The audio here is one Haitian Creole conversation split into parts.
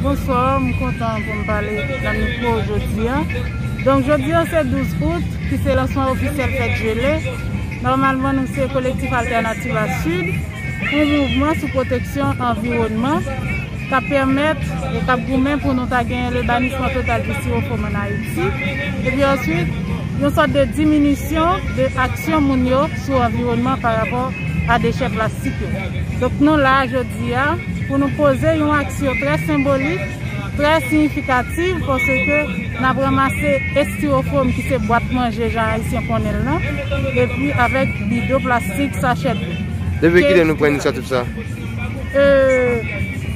Bonsoir, m kontan pou m pale nan mikwo w jodi an. Donk jodi an se 12 out ki se lansman ofisyèl Fèt Jele. Nòmalman nou se Kolektif Altènativa Sid, yon mouvman sou pwoteksyon anviwònman k ap pèmèt e k ap goumen pou nou ta genyen le banisman total di siwofòm ann Ayiti. Epi answit, yon sòt de diminisyon de aksyon moun yo sou anviwònman parapò a dechè plastik yo. Donk nou la a jodi. jodi a pou nou poze yon aksyon trè senbolik, trè siyifikativ paske n ap ranmase estiwofwom ki se bwat manje jan Ayisyen konnen l lan epi avèk bido plastik, sachè dlo. Depi kilè nou pran inisyativ sa a?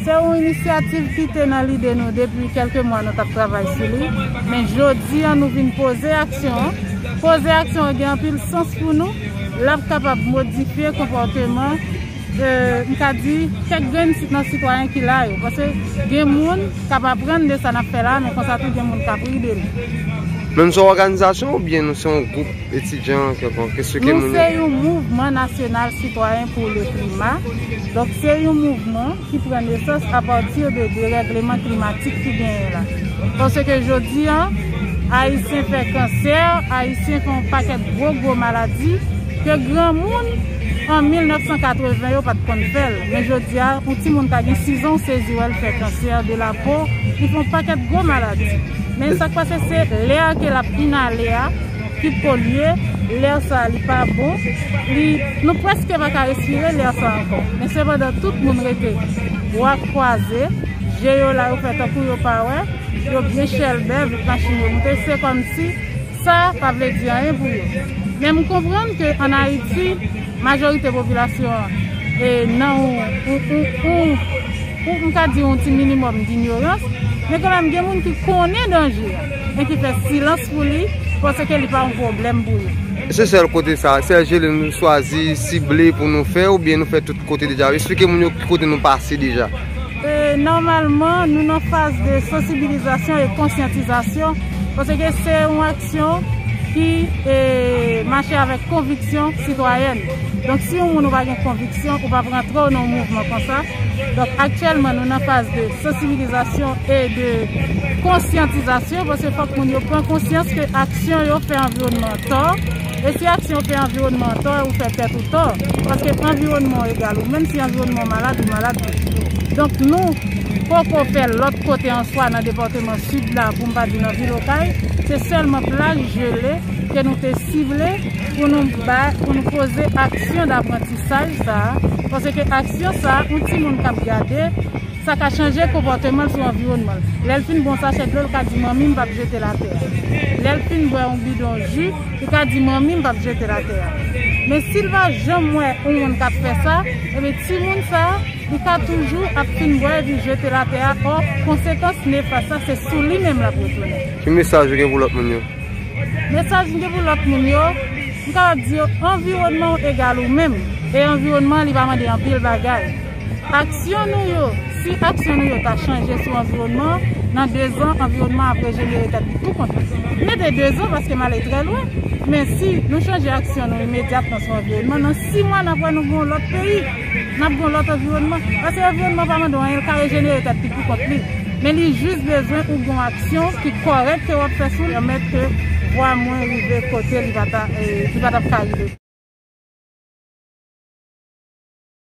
Se yon inisyativ ki te nan lide nou depi kèlke mwa nou t ap travay sou li, men jodi a nou vin poze aksyon an. Poze aksyon an gen anpil sans pou nou, l ap kapab modifye konpòteman. m ka di kèk grenn nan sitwayen ki la yo paske gen moun k ap aprann de sa n ap fè la a men konsa tou gen moun k ap ri de nou. Men nou se yon òganizasyon oubyen nou se yon gwoup etidyan kèlkonk? Esplike nou. Nou se yon mouvman nasyonal sitwayen pou le klima. Donk se yon mouvman ki pran nesans apati de derègleman klimatik ki genyen la. Paske jodi an, Ayisyen fè kansè, Ayisyen fè yon pakèt gwo gwo maladi ke granmoun. An 1980 yo pat konn fèl men jodia yon ti moun ka gen 6 ans w sezi wèl fè cancer de la peau li fè yon pakèt gwo maladi men sak pase se l'air ke lap inhale a ki polye l'air sa li pa bon li nou preske pa ka respire l'air sa ankò men sepandan tout moun rete bwa kwaze je yo la yo fè tankou yo pa wè yo byen chèlbè vit machin yo moute se kòmsi Sa pa vle di anyen pou yo. Men m konprann ke an Ayiti, majorite popilasyon an nan yon, m ka di yon ti minimòm dinyorans, men kanmèm gen moun ki konnen danje a, men ki fè silans pou li, panse ke li pa yon pwoblèm pou yo. Se sèl kote sa, sèl jele nou chwazi, sible pou nou fè, oubyen nou fè tout kote deja? Esplike moun yo ki kote nou pase deja. Nòmalman, nou nan faz de sansibilizasyon e konsyantizasyon, paske se yon aksyon ki mache avèk konviksyon sitwayèn. Donk, si yon moun ou pa gen konviksyon, ou pa p rantre w nan yon mouvman konsa. Donk, aktyèlman, nou nan faz de sansibilizasyon e de konsyantizasyon, paske fòk moun yo pran konsyans ke aksyon yo fè anviwònman an tò. E si aksyon w fè anviwònman an tò e ou fè tèt ou tò? Paske anviwònman w egal ou menm, si anviwònman w malad, ou malad tou. Donk nou poko fè lòt kote answa nan depatman Sid la pou m pa di nan vil Okay, se sèlman plaj jele ke nou te sible pou nou bay, pou nou poze aksyon daprantisaj sa a, paske aksyon sa a, yon timoun k ap gade. Sa ka chanje konpòteman l sou anviwònman l. Lè l fin bwè yon sachè dlo, l ka di manmi m pa p jete l atè a. Lè l fin bwè yon bidon ji, li ka di manmi m pa p jete l atè a. Men si l pa janm wè yon moun k ap fè sa, enben timoun sa, li ka toujou ap fin bwè epi jete l atè a, ò, konsekans nefas la se sou li menm l ap retounen. Ki mesaj ou gen pou lòt moun yo? Mesaj m gen pou lòt moun yo, m kapab di yo anviwònman w egal ou menm, e anviwònman an li pa mande anpil bagay. Aksyon nou yo Si aksyon nou yo ta chanje sou anviwònman an, nan dezan, anviwònman an ap rejenere tèt li tou kont li. M mete dezan paske m ale trè lwen, men si nou chanje aksyon nou imedyatman sou anviwònman, nan si mwa n ap wè nou gen yon lòt peyi, n ap gen yon lòt anviwònman. Paske anviwònman an pa mande w anyen, li ka rejenere tèt li pou kont li. Men li jis bezwen ou gen yon aksyon ki kòrèk ke w ap fè sou li pou pèmèt ke vwa mwen rive kote li pa t ap ka rive.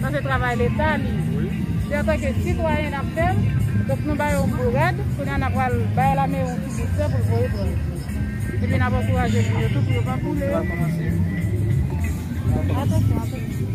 Sa se travay leta li se antanke sitwayen nap fèl donk nou bayo yon bourad kounya na pral bay lame yon ti bout tè poul voye pran epi nap ankouraje moun yo tou pou yo pa boule yo atansyon atansyon